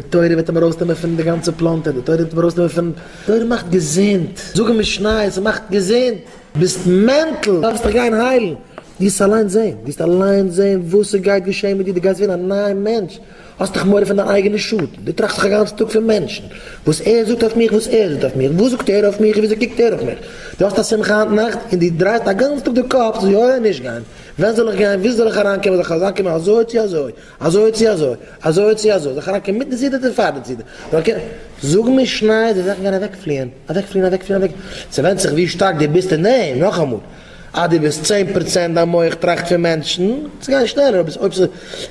די תורה וועט אים ארויסנעמען פון די גאנצע פלאנטער, די תורה וועט אים ארויסנעמען פון, תורה מאכט געזונט, זאגן משניות, ס'מאכט געזונט, ביסט מענטל, דארפסט דיך גיין היילן, ווילסט אליין זען, ווילסט אליין זען וואס ס'גייט געשען מיט דיר, דו גייסט ווערן א נייע מענטש, האסט דאך מורא פון דיין אייגענע שאטן, דו טראכסט דאך א גאנצן טאג פון מענטשן, וואס ער זאגט אויף מיך, וואס ער זאגט אויף מיך, וואס זאגט ער אויף מיך און וויאזוי קוקט ער אויף מיך, דו האסט א שמחה היינט נאכט און דו דרייסט א גאנצן טאג די קאפ צו יא אדער נישט גיין, ווען זאל איך גיין, וואו זאל איך אריינקומען, זאל איך אריינקומען אזוי צו אזוי, אזוי צו אזוי, אזוי צו אזוי, זיך אריינקערן מיטן סידור צו פארן סידור, אריינקערן, זאג מיר שניי די זאכן גייען אוועקפליען, אוועקפליען, אוועקפליען, אוועק, ס'ווענדט זיך ווי שטארק דו ביסט אין דעם, נאכאמאל, אז דו ביסט צען פראצענט דיין מח טראכט פון מענטשן, וועט עס גיין שנעלער, אויב איז עס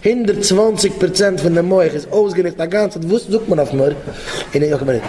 הונדערט צוואַנציק פראצענט פון די מח איז אויסגענוצט אגאנצעט וואס זאגט מען אויף מיר, און אויב קען מען נישט.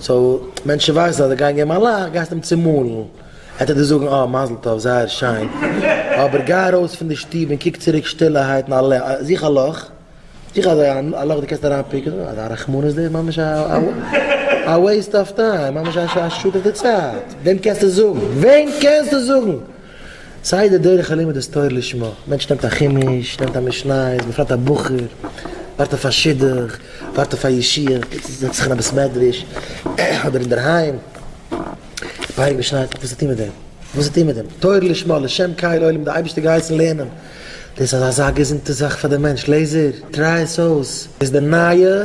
סאו מענטשן ווייסן אז זיי גייען געבן א לאך, גייסט אים צומאלן, עטץ דיר זאגן אה מזל טוב זייער שיין, אבער גיי ארויס פון די שטוב און קוק צוריק שטילערהייט און זוך א לאך, זוך אזא א לאך דו קענסט אריין פיקען, אזא רחמנות דאס איז ממש א א וועיסט אוו טיים, ממש א שאד אויף די צייט, וועם קענסטו זאגן, וועם קענסטו זאגן? סיי די דרך הלימוד איז תורה לשמה, מענטש נעמט א חומש, נעמט א משניות, בפרט א בחור, ווארט אויף א שידוך, ווארט אויף א ישיבה, גייט צו זעצט זיך אין א בית מדרש, אדער אינדערהיים, פאריגע משניות, וואס צו טון מיט דעם? וואס צו טון מיט דעם? תורה לשמה, לשם קיי לעולם, די אייבערשטער האט געהייסן לערנען, דאס איז אזא געזונטע זאך פאר די מענטש, לעזער, טריי עס אויס, איז די נייע.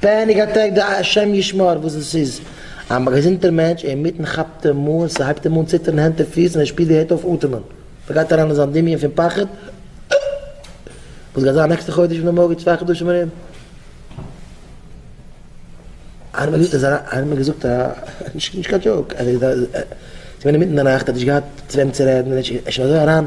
פעניק אטעק די השם ישמור וואס עס איז א געזונטער מענטש אינמיטן כאפט אים אן ס'הייבט אים אן ציטערן הענט און פיס און ער שפירט ווי ער הערט אויף אטעמען ס'גייט אריין אין זיין דמיון פון פחד וואס גייט זיין נעקסטע חודש און די מארגן צוויי חדשים ארום איינער האט מיר געזאגט איינער האט מיר געזאגט א נישט קיין דזשאוק אז ער איז געווען אינמיטן די נאכט ער האט נישט געהאט צו וועם צו רעדן און ער איז שוין אזוי אריין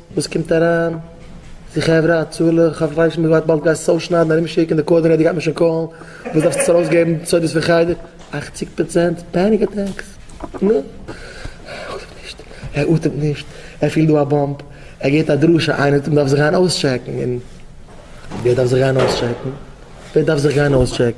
וואס קומט אריין? זי חברה הצלה, כ'האף איך ווייס נישט מ'וועט באלד גייסט עס אויסשניידן ארום שיקן די קארדינעיטער גייט מען שוין קאלן, וואס דארפסטו עס ארויס געבן די סודות פון חדר? אכציג פראצענט פעניק אטעקס, נא. ער אטעמט נישט, ער אטעמט נישט, ער פילט דא א באמפ, ער געבט א דרשה, איינער האט אים דארף זיך גיין אויסטשעקן, און ווער דארף זיך גיין אויסטשעקן? ווער דארף זיך גיין אויסטשעקן?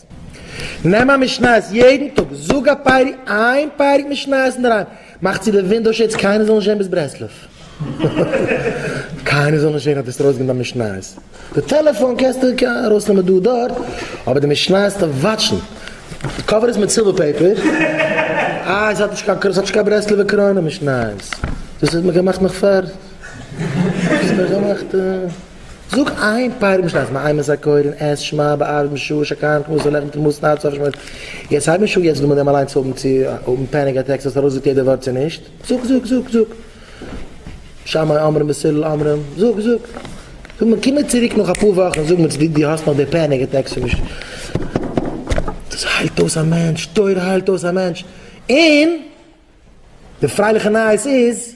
נעם א משניות יעדן טאג, זאג א פרק, איין פרק משניות אינדערהיים, מאך צו די ווינדאו שעידס קיינער זאל נישט זען ביז ברסלב, קיינער זאל נישט זען אז דו האסט ארויסגעגעבן דיין משניות, די טעלעפאן קענסטו ארויסנעמען דא דארט, אבער די משניות דארף וואטשן, די קאווער איז מיט סילווער פעיפער, איי עס האט נישט קיין קרוין, עס האט נישט קיין ברסלב'ע קרוין, די משניות, דאס האט מען געמאכט נאך פאר, דאס האט מען געמאכט. זאג איין פאר משניות אז מען איימעס א קויל און עס שמע בערב משעה שקיימת מוסר לחם תמוז נאר צו אויפשמועסן יעצט הייב נישט אן יעצט דערמאן דעם אליינס צו האבן צו האבן פעניק אטעקס האסט ארויסגעזאגט יעדע ווארט צו נישט זאג זאג זאג זאג שמאי אומרים מסילל אומרים זאג זאג זאג מיר קום מיר צוריק נאך אפאר וואכן און זאג מיר צו דו האסט נאך די פעניק אטעקס צו נישט דאס היילט אויס א מענטש תורה היילט אויס א מענטש און די פרייליכע נייעס איז.